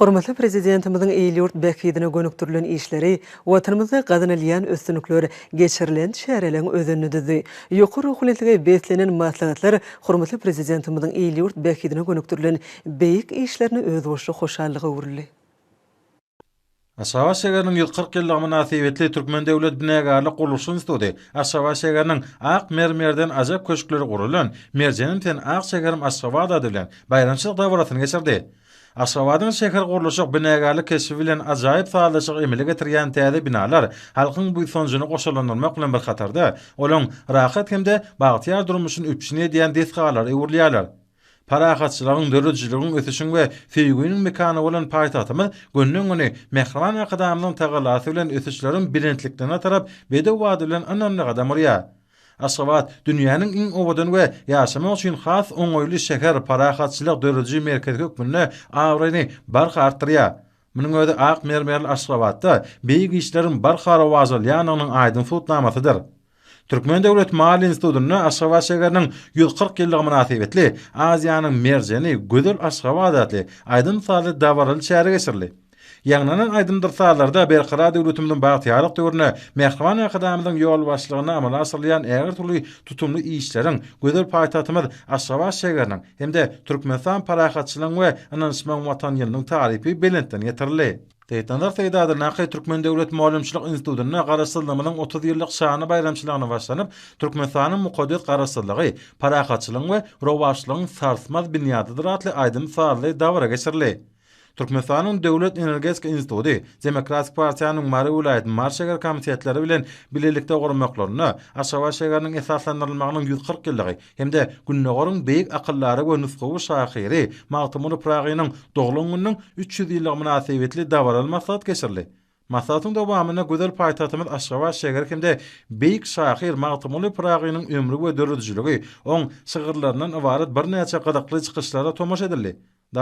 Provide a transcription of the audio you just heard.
Hormatly Prezidentimiziň il-ýurt bähbidine gönükdirilen işleri, Watanymyzda gazanylýan üstünlikler, geçirilen çäreleriň özenini düzdi. Ýokary ruhunetlige beslenen maslahatlar hormatly Prezidentimiziň il-ýurt bähbidine gönükdirilen beýik işlerine özboluşly hoşallyga öwrüldi. Aşgabat şägeriniň ýüz kyrk ýyllygy mynasybetli Türkmen döwlet binägärlik gurluşy instituty Aşgabat şägeriniň Ak mermerden ajap köşkleri gurulan Merjenim sen ak şäherim Aşgabat ady bilen baýramçylyk dabarasyny geçirdi. Aşgabadyň şähergurluşyk, binägärlik keşbi bilen ajaýyp sazlaşygy emele getirýän täze binalar halkyň buýsanjyny goşalandyrmak bilen bir hatarda, olaň rahat hem-de bagtyýar durmuşyny üpjün edýän desgalara öwrülýärler. Parahatçylygyň, döredijiligiň, ösüşiň we söýgüniň mekany bolan paýtagtymyz günden-güne Mähriban Arkadagymyzyň tagallasy bilen ösüşleriň belentliklerine tarap bedew bady bilen ynamly gadam urýar. Aşgabat, dünýäniň iň owadan we ýaşamak üçin has oňaýly şäher, parahatçylyk dörediji merkezi hökmünde abraýyny barha artdyrýar. Munuň özi ak mermerli Aşgabatda beýik işleriň barha rowajalýandygynyň aýdyň subutnamasydyr. Türkmen döwlet maliýe institutynda Aşgabat şägeriniň ýüz kyrk ýyllygy mynasybetli Aziýanyň merjeni, gözel Aşgabat atly aýdym-sazly dabaraly çäre geçirildi. Ýaňlanan aýdymdyr-sazlarda Berkarar döwletimiziň bagtyýarlyk döwründe Mähriban Arkadagymyzyň ýolbaşçylygynda amala aşyrylýan ägirtürli tutumly işleriň, gözel paýtagtymyz Aşgabat şägeriniň hem-de Türkmenistan parahatçylygyň we ynanyşmagyň Watany ýylynyň tarypy belentden ýetirildi. Seýitnazar Seýdady Nakyý Türkmen döwlet mugallymçylyk institutynda Garaşsyzlygymyzyň otuz ýyllyk şanly baýramçylygyna başlanyp, Türkmenistanyň mukaddes Garaşsyzlygy, parahatçylygyň we rowaçlygyň sarsmaz binýadydyr atly aýdym-sazly dabara geçirildi. Türkmenistanyň Döwlet energetika instituty, Demokratik partiýanyň Mary welaýat Mary şeger komitetleri bilen bilelikde gurmaklarynda Aşgabat şägeriniň esaslandyrylmagynyň ýüz kyrk ýyllygy hem-de Gündogaryň beýik akyldary we nusgawy şahyry Magtymguly Pyragynyň doglan gününiň üç ýüz ýyllygy mynasybetli dabaraly maslahat geçirildi. Maslahatyň dowamynda gözel paýtagtymyz Aşgabat şägeri hem-de beýik şahyr Magtymguly Pyragynyň ömri we döredijiligi, oň şygyrlaryndan ybarat birnäçe gyzykly çykyşlara tomaşa edildi.